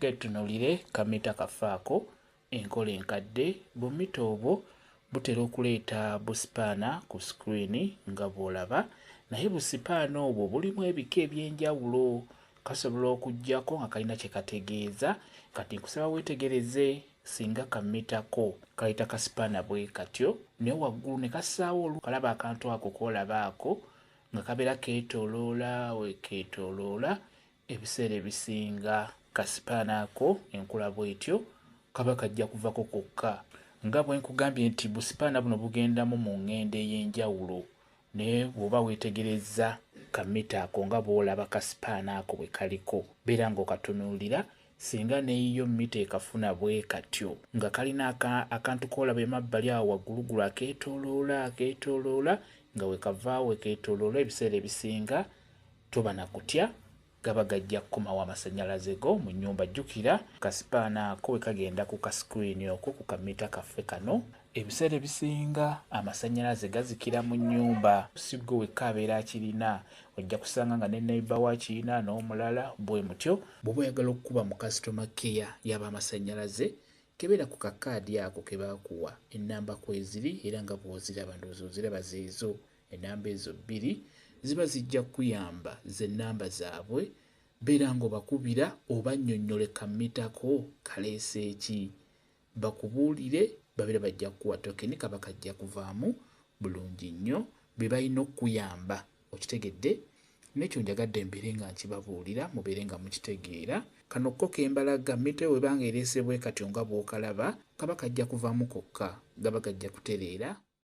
Ketunuulire kamita kaffe ako. Enkola enkadde, bumita obwo butera okuleeta busipaana ku sikuriini nga bw'olaba, naye busipaana obwo bulimu ebika eby'enjawulo. Kasobola okujjako nga kalina kye kategeeza. Kati nkusaba weetegereze singa kamita ko kayita kasipaana bwe katyo, naye waggulu ne kassaawo olu, kalaba akantu ako k'olaba ako nga kabeera keetooloola, weekeetooloola, Ebiseera ebisinga kasipaana ako enkula bwetyo kaba kajja kuvako kokka. Nga bwe nkugambye nti busipaana buno bugendamu mu ngendo ey'enjawulo naye bw'oba weetegerezza ka mita ako nga bw'olaba kasipaana ako bwe kaliko beera ng'okatunuulira singa n'eyiyo mita ekafuna bwe katyo nga kalina akantu k'olaba emabbali awo wagguluggulu akeetooloola akeetooloola nga we kava we keetooloola ebiseera ebisinga Toba na kutya, gaba gajja kukomawo amasannyalaze go mu nnyumba. Jjukira, ka sipaana ako bwe kagenda ku ka sikulini okwo ku kammita kaffe kano, ebiseera ebisinga amasannyalaze gazikira mu nnyumba. Si ggwe wekka abeera akirina. Ojja kusanga nga ne neyiba wo akirina, n'omulala bwe mutyo. Bw'oba oyagala okukuba mu kasitoma keya y'ab'amasannyalaze, kebera ku kakaadi ako ke baakuwa. Ennamba kweziri, era nga bw'oziraba, ndowooza oziraba zeezo. Enamba ezo bbiri ziba zijja kukuyamba ze namba zaabwe. Beera ng'obakubira obannyonnyole kammita ko kaleese ki. Bakubuulire babeere bajja kukuwa tokeni kaba kajja kuvaamu bulungi nnyo. Be balina okukuyamba okitegedde. N'ekyo njagadde mbeere nga nkibabuulira mubeere nga mukitegeera. Kano ko ke mbalaga mmita eyo bw'eba ng'ereese bwe katyo nga bw'okalaba kaba kajja kuvaamu kokka. Gaba gajja kutereera.